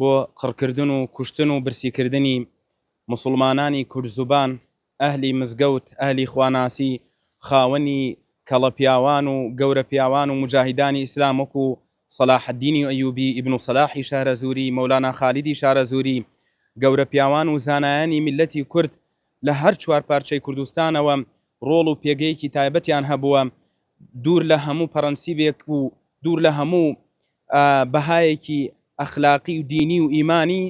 بۆ قڕکردن و کوشتن و برسیکردنی موسڵمانانی کوردزبان، ئەهلی مزگەوت، ئەهلی خواناسی، خاوەنی کەڵەپیاوان و گەورەپیاوان و موجاهیدانی ئیسلام وەکو سەلاحەدینی ئەیوبی، ئیبن سەلاحی شارەزوری، مەولانا خالیدی شارەزوری، گەورەپیاوان و زانایانی میللەتی کورد لە هەر چوار پارچەی کوردستانەوە ڕۆڵ و پێگەیەکی تایبەتیان هەبووە دوور لە هەموو پەڕەنسیبێک و دوور لە هەموو بەهایەکی ئەخلاقی و دینی و ئیمانی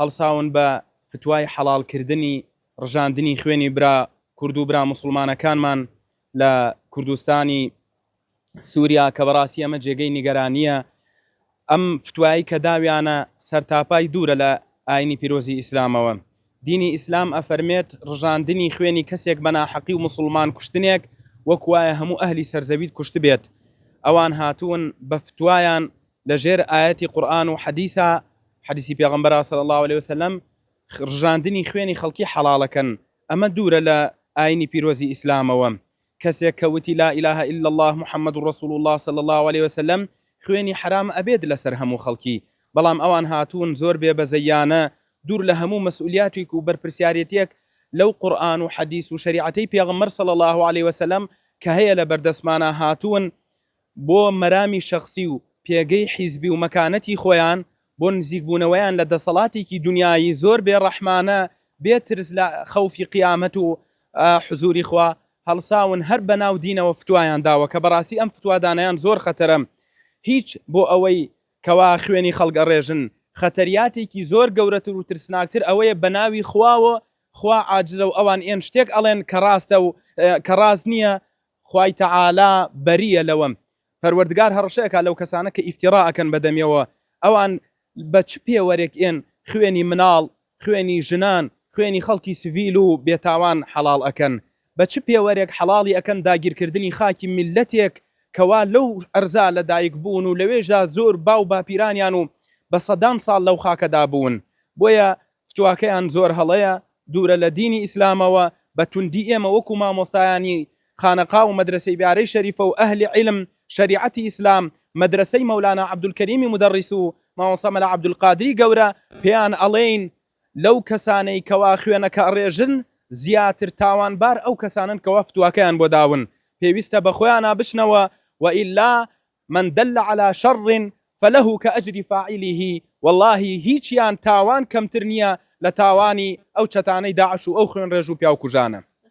هەڵساون بە فتوای حەڵاڵ کردنی ڕژاندنی خوێنی برا کورد و برا موسڵمانەکانمان لە کوردستانی سوریا کە بەڕاستی ئەمە جێگەی نیگەرانیە ئەم فتوایەی کە داویانە سەرتاپای دوورە لە ئاینی پیرۆزی ئیسلامەوە. دینی ئیسلام ئەفەرمێت ڕژاندنی خوێنی کەسێک بە ناحەقی و موسڵمان کوشتنێک وەک وایە هەموو ئەهلی سەرزەویت کوشتبێت ئەوان هاتوون بە فتوایان لە ژێر ئایەتی قورئان و حەدیسا حەدیسی پێغەمبەرا صلی اللە علیە وسلم ڕژاندنی خوێنی خەڵکی حەڵاڵەکەن ئەمە دوورە لە ئاینی پیرۆزی ئیسلامەوە کەسێک کە وتی لا الە الا اللە محمد رسول اللە صلی اللە علیە وسلم خوێنی حەرام ئەبێت لەسەر هەموو خەڵکی بەڵام ئەوان هاتوون زۆر بێ بەزەییانە دوور لە هەموو مەسئولیاتیک و بەرپرسیارێتیەک لەو قورئان و حەدیس و شەریعەتەی پێغەمبەر صلی اللە علیە وسلم کە هەیە لەبەردەستمانا هاتوون بۆ مەرامی شەخسی و پێگەی حیزبی و مەکانەتی خۆیان، بۆ نزیکبوونەوەیان لە دەسەڵاتێکی دونیایی زۆر بێ ڕەحمانە، بێ ترس لە خەوفی قیامەت و حزوری خوا، هەڵساون هەر بەناو دینەوە فتوایان داوە، کە بەڕاستی ئەم فتوادانیان زۆر خەتەرە هیچ بۆ ئەوەی کەوا خوێنی خەڵک ئەڕێژن، خەتەریاتێکی زۆر گەورەتر و ترسناکتر ئەوەیە بەناوی خواوە خوا عاجزە و ئەوان ێن شتێک ئەڵێن کە ڕاستە و کە ڕاست نیە خوای تەعالا بەرییە لەوەم. پەروەردگار هەڕەشە ئەکا لەو کەسانە کە ئیفتیڕا ئەکەن بە دەمیەوە، ئەوان بە چ پێوەرێک ێن خوێنی مناڵ، خوێنی ژنان، خوێنی خەڵکی سڤیل و بێتاوان حەڵاڵ ئەکەن؟ بە چ پێوەرێک حەڵاڵی ئەکەن داگیرکردنی خاکی میللەتێک کە وا لەو ئەرزا لە دایک بوون و لەوێشدا زۆر باو باپیرانیان و بە سەدان ساڵ لەو خاکەدا بوون؟ بۆیە فتواکەیان زۆر هەڵەیە دوورە لە دینی ئیسلامەوە بە توندی ئێمە وەکو مامۆستایانی خانەقا و مەدرەسەی بارەی شەریفە و ئەهلی عیلم شەریعەتی ئیسلام مەدرەسەی مەولانا عەبدولکەریمی مودەڕیس و مامۆستا مەلا عەبدولقادری گەورە پێیان ئەڵێین لەو کەسانەی کەوا خوێنەکە ئەڕێژن زیاتر تاوانبار ئەو کەسانەن کەوا فتواکەیان بۆ داون پێویستە بە خۆیانا بچنەوە وەئیلا من دل علی شر فله کاجر فاعله وەڵاهی هیچیان تاوان کەمتر نیە لە تاوانی ئەو چەتانەی داعش و ئەو خوێنڕێژ و پیاوکوژانە.